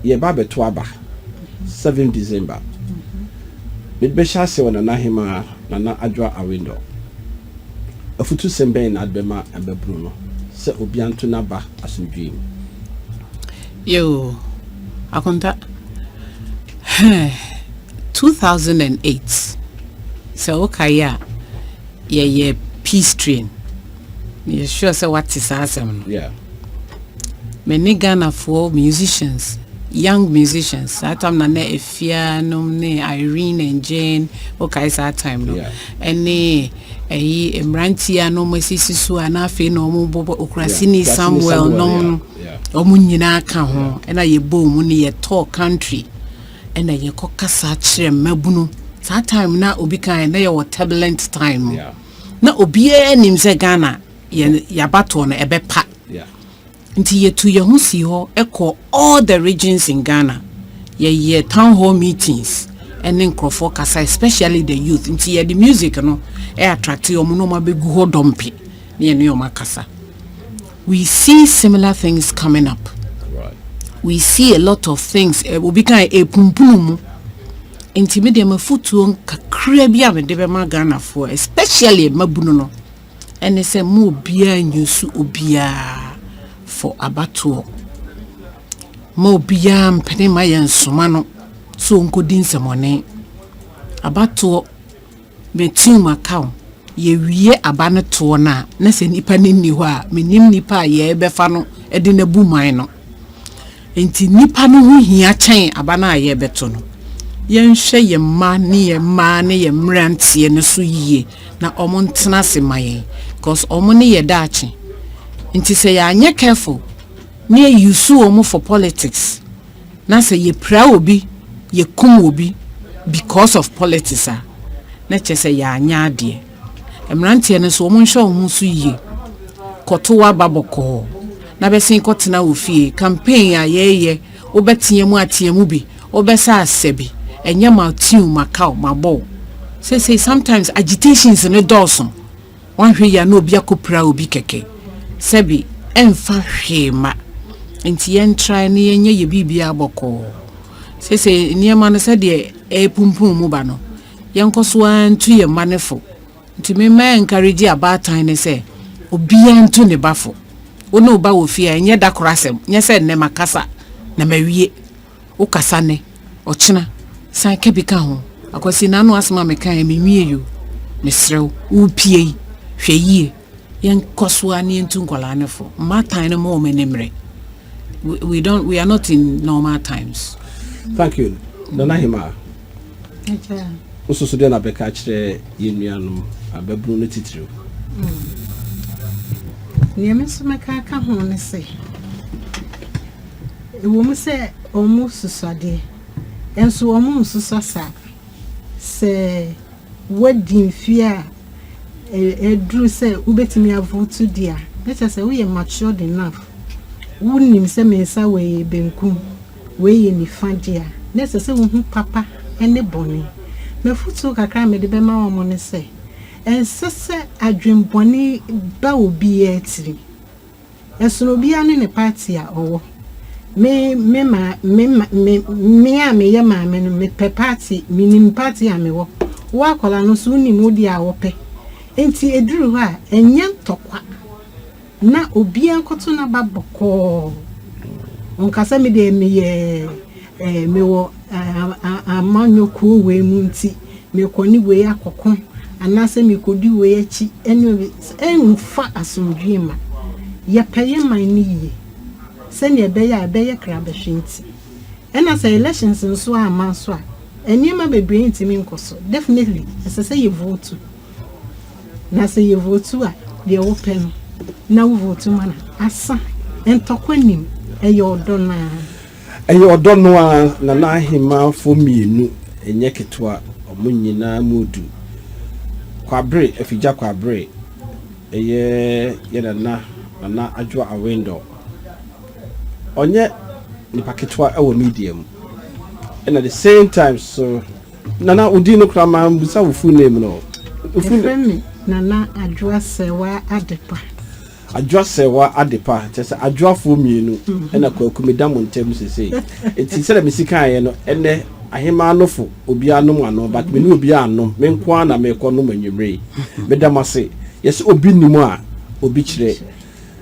Yɛreba abɛto aba seven December. Me bɛhyɛ ase wɔ Nana Hemaa Nana Adwoa Awindor. Afutusɛm bɛn na ade bɛma mmabunu no sɛ obia nto n'aba asomdwoe mu? Yoo Akonta hɛɛ two thousand and eight sɛ wo kae a yɛyɛ peace train. Meyɛ sure sɛ wate saa asɛm no. Yeah. Many Ghana for musicians, young musicians. That time na na Efia nom ne Irene and Jane. Okay, it's that time no. Yeah. Any ayi mmeranteɛ no wɔn asisi so a na afei na wɔn bɔ okurasini samuel nom wɔn nyinaa ka ho ɛna yɛ bɔ wɔn ne yɛ tɔɔ country ɛna yɛ kɔ kasa kyerɛ mmabunu saa time na obi kan na yɛ wɔ turbulent time. Yeah. na obiara nim sɛ ghana yɛn yabatoɔ no ɛbɛpa nti yɛtu yɛn ho sii hɔ ɛkɔ all the regions in ghana yɛyɛ town hall meetings ɛne nkurɔfoɔ kasa especially the youth nti yɛde music no ɛ attract wɔn na wɔn abɛgu hɔ dɔmpe ne yɛne wɔn akasa We see similar things coming up. We see a lot of things. Eh, obi kan eh, epumpunu mu. Nti me deɛ mafutuo kakra bi a mede bɛma Ghanafoɔ especially mmabunu no ɛne sɛ mo obiara nyusu obiara for abatoɔ. Mo obiara mpene ma yɛn nsoma no so nkɔdi nsɛmɔne. Abatoɔ Me team aka o, yɛ wie aba no toɔ no a na sɛ nipa no nni hɔ a me nim nipa a yɛɛ bɛ fa no de no abu man no. Nti nipa no ho hia kyɛn aba no a yɛɛ bɛ to no. Yɛn hwɛ yɛn mma ne yɛn mmaa ne yɛn mmeranteɛ no so yie na ɔmo ntena ase ma yɛn cause ɔmo ne yɛ daakye. Nti sɛ yɛanyɛ careful ne yɛ use ɔmo for politics Na sɛ yɛpira obi, yɛkum obi because of politics a, na kyerɛ sɛ yɛanyɛ adeɛ. Mmeranteɛ no nso, wɔnhwɛ wɔn ho so yie. Kɔto w'aba bɔkɔɔ na bɛsen kɔtena wo fie. Campaign a yɛreyɛ, wobɛtea mu atea mu bi, wobɛsɛ asɛ bi, ɛnyɛ matew, makaw, mabɔw. Seesei sometimes agitations no dɔɔso. Wanhwɛ yie a na obi akɔpira obi kɛkɛ. Sɛbi ɛmfa hwee mma. Nti yɛntrae na yɛnyɛ yɛ biribiara bɔkɔɔ. Seesei nneɛma no sɛdeɛ ɛrepumpum mu ba no, yɛnkɔ so ara ntu yɛn mma no fo. Nti me mɛɛnkarigye abaatan ne sɛ, obiara ntu ne ba fo. Wo ne wo ba wɔ fie a, ɛnyɛ da koro asɛm. Nyɛ sɛ nnɛ makasa na mawie. Wo kasa nnɛ, ɔkyena san ka bi ka ho. Akwasi na ano asem a mekaeɛ menwiei o. Mesrɛ wo, worepie yi, hwɛ yie. Yɛnkɔ so ara na yɛntu nkwadaa no fo. Mmaatan no mma wɔn ani mmere. We don't, we are not in normal times. Thank you. Nana Hemaa, wo nso so deɛ na wobɛka akyerɛ yɛn nuanom ababunu no titiriw? Nea me nso mɛka aka ho ne sɛ, Ɛwom sɛ wɔsosɔ de, nanso wɔnsosɔ saa. Sɛ woadi mfe a aduru sɛ wubetumi avote di a, na kyerɛ sɛ woyɛ matured enough. Wunim sɛ me nsa wei yɛ benkum, wei yɛ nifa de a, na ɛsɛ sɛ wuhu papa ne bɔne. M'afotu kakra a mede bɛma wɔn ne sɛ, ɛnsɛ sɛ adwemmɔne ba obiara tirim. Ɛsono obiara ne ne party a ɔwɔ. Me me maa me ma me me a meyɛ maame no mepɛ party menim party a mewɔ. Wo akwadaa no nso wonim wo deɛ a wopɛ. Nti ɛduru hɔ a ɛnyɛ ntɔkwa na obiara nkɔto n'aba bɔkɔɔ nka sɛ me deɛ meyɛ mewɔ amanyɔkuo wei mu nti mekɔ ne wei akɔko anaasɛ mekɔdi wei akyi ɛne wei ɛmfa asomdwoeɛ mma. Yɛpɛ yɛ man no yie sɛdeɛ ɛbɛyɛ a ɛbɛyɛ krabɛhwe nti. Ɛna sɛ elections nso amma nso a nneɛma bebree ntumi nkɔ so. Definitely ɛsɛ sɛ yɛ vote na sɛ yɛ vote a deɛ wopɛ no na wo vote ma no asa. Ntɔkwa nim ɛyɛ ɔdɔ no ara. Ɛyɛ ɔdɔ no ara, na n'ahemmanfoɔ mmienu nyɛ ketewa, wɔn nyinaa mu du. Kwabere, Afigya Kwabere yɛ yɛn nana, Nana Adwoa Awendor. Ɔnyɛ nipa ketewa wɔ media mu, ɛna the same time nso, Nana, wo din no koraa mambisa wo full name no. Wɔfrɛ me Nana Adwoa Sɛwaa Adepa. Adwoa Serwa Adepa, kyerɛ sɛ Adwoafoɔ mmienu na Kwaku meda mo ntam seesei. Enti sɛdeɛ mesi kaeɛ no, ɛnnɛ Ahemaa nofo, obiara nom ano, but me ne obiara nnom, me nko ara na merekɔnom anwummere yi. Meda mo ase. Yɛse obi nni mu a, obi kyerɛ.